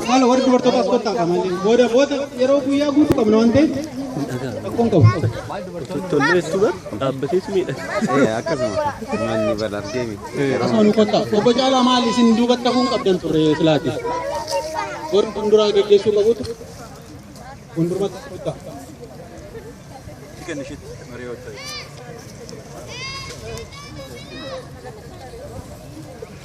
Haala warri dubartoota as kottaa qaban booda booda yeroo guyyaa guutuu qabna waan ta'eef rakkoon qabu. Tolleessuudha dhaabbateetu miidhagsa. Akkasuma manni bala argee miti. Akkasuma nu kottaa. Obbo Caalaa maal isin duubatti hafuun qabdan turre silaati. Warri fuulduraa gaggeessuu qabutu fuuldurumatti as kottaa.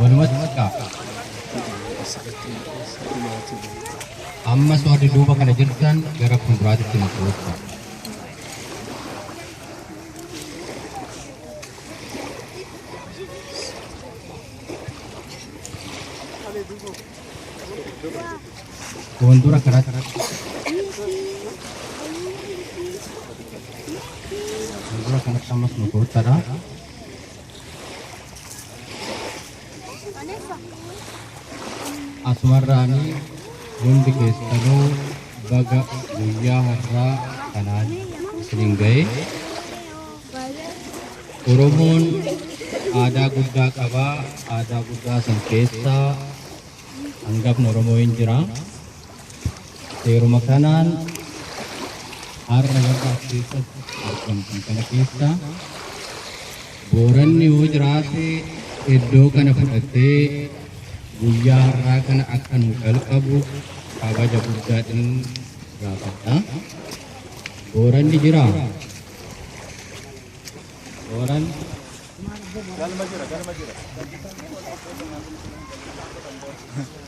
Walumatti kaa. Ammas warri duuba kana jirtan gara fuulduraatitti nu koottaa. Fuuldura kanatti. Fuuldura kanatti ammas nu koottadha. Asumarraani hundi keessanuu baga guyyaa har'aa kanaan isinin ga'e. Oromoon aadaa guddaa qaba. Aadaa guddaa san keessaa hangafni Oromoo hin jira. Seeruma kanaan har'a warra as keessatti argamtan kana keessaa Booranni yoo jiraate iddoo kana fudhatee guyyaa har'aa kana akka nu jalqabu kabaja guddaadhaan gaafadha. Booranni jira. Booran Galma jira, galma jira.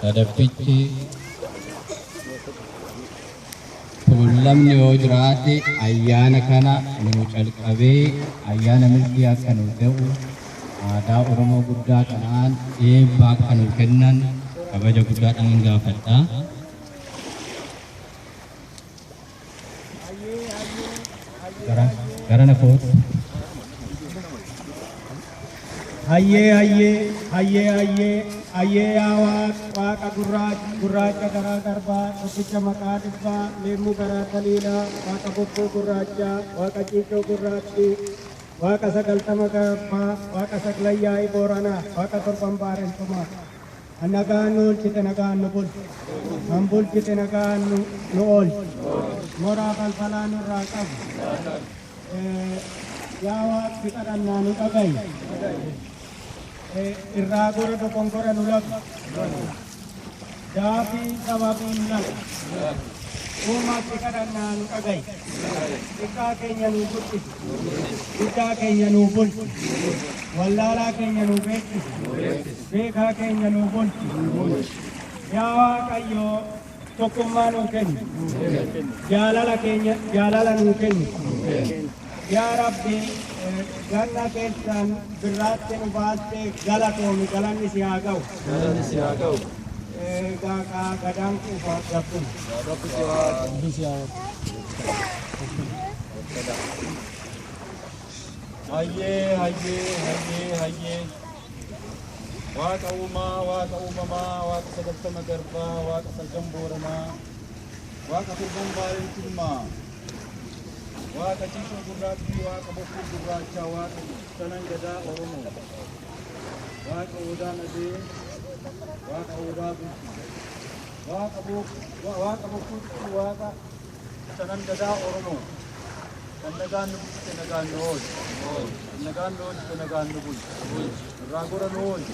Sadaffichi tuullamni yoo jiraate ayyaana kana nuu calqabee ayyaana milkii akka nuu ta'u aadaa Oromoo guddaa kanaan eebba akka nuu kennan kabaja guddaadhaan gaafadha. Garana koot. Hayyee hayyee hayyee hayyee hayyee yaa waaq waaqa gurraacha gurraacha garaa garbaa tokkicha maqaa dhibbaa leemmuu garaa taliilaa waaqa bokkuu gurraachaa waaqa ciicoo gurraattii waaqa sagaltama garbaa waaqa saglayyaa'ii booranaa waaqa torban baarentumaa. Kan nagaan nu oolchite nagaan nu bulchi. Kan bulchite nagaan nu nu oolchi. Moraa falfalaa nurraa qabi. Eh, Yaa waaqni kadhannaa nu dhaga'i. Eh, Irraa gora dogongora nu labi. Daafii sababii nu labi. Uumatti kadhannaa nu dhaga'i. Xiqqaa keenya nu guddisi. Guddaa keenya nuu bulchi. Wallaalaa keenya nuu beeksisi. Beekaa keenya nuu bulchi. Yaa Waaqayyo tokkummaa nuu kenni. Jaalala keenya jaalala nuu kenni. Yaa Rabbi eh, ganna keessaan birraatti nu baastee galatoomi galanni si haa ga'u. Galanni si haa ga'u. Egaa kaa gadaan kuufaa gabbuma. Rabbi si haa Hayyee hayyee hayyee hayyee waaqa uumaa waaqa uumamaa waaqa sagaltama garbaa waaqa salgan booranaa waaqa turban baay'ee tummaa waaqa ciisuu gurraattii waaqa bokkuu gurraachaa waaqa sanan gadaa oromoo waaqa odaa nadee waaqa odaa bultii waaqa bokkuu waaqa Shanan Gadaa Oromoo kan nagaan nu bulchite nagaan nu oolchi. Kan nagaan nu oolchite nagaan nu bulchi. Nurraa gora nu oolchi.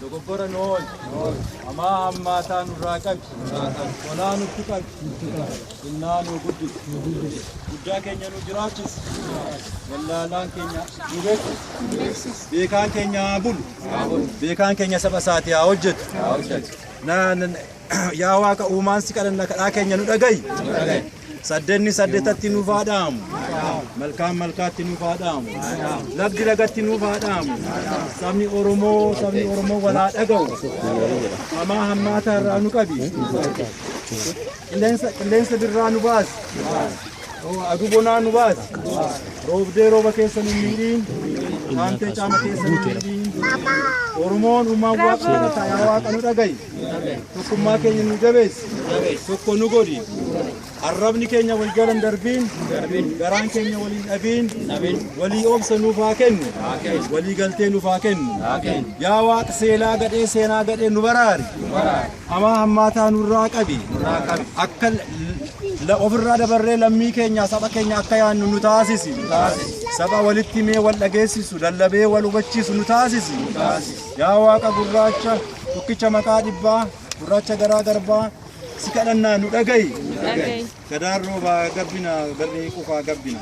Dogoggora nu oolchi. Hamaa hammaataa nurraa qabi. Tolaa nutti qabi. Xinnaa nu guddisi. Guddaa keenya nu jiraachisi. Wallaalaan keenya nu beeksisi. Beekaan keenya haa bulu. Beekaan keenya saba isaatii haa hojjetu. Na- na- Yaa Waaqa uumaan si kadhanna kadhaa keenya nu dhagayi. Saddenni saddetatti nuuf haa dhaamu. Malkaan malkaatti nuuf haa dhaamu. Lagdi lagatti nuuf haa dhaamu. Sabni Oromoo sabni Oromoo wal haa dhaga'u. Hamaa hammaataa irraa nu qabi. Qilleensa qilleensa birraa nu baasi. Aduu bonaa nu baasi. Roobdee rooba keessa nu miidhiin. Haamtee caama keessa nu miidhiin. Oromoon uumaan waaqa kadhata yaa waaqa nu dhagayi. Tokkummaa keenya nu jabeessi. Tokko nu godhi. Arrabni keenya wal jala hin darbiin. Garaan keenya wal hin dhabiin. Walii obsa nuuf haa kennu. Walii galtee nuuf haa kennu. Yaa Waaq seelaa gadhee seenaa gadhee nu baraari. Amaa hammaataa nurraa qabi. Akka la- ofirraa dabarree lammii keenya saba keenya akka yaannu nu taasisi. Saba walitti mee wal dhageessisu lallabee wal hubachiisu nu taasisi. Yaa Waaqa gurraacha tokkicha maqaa dhibbaa gurraacha garaa garbaa si kadhannaa nu dhaga'i. Gadaan roobaa gabbina garri qufaa gabbina.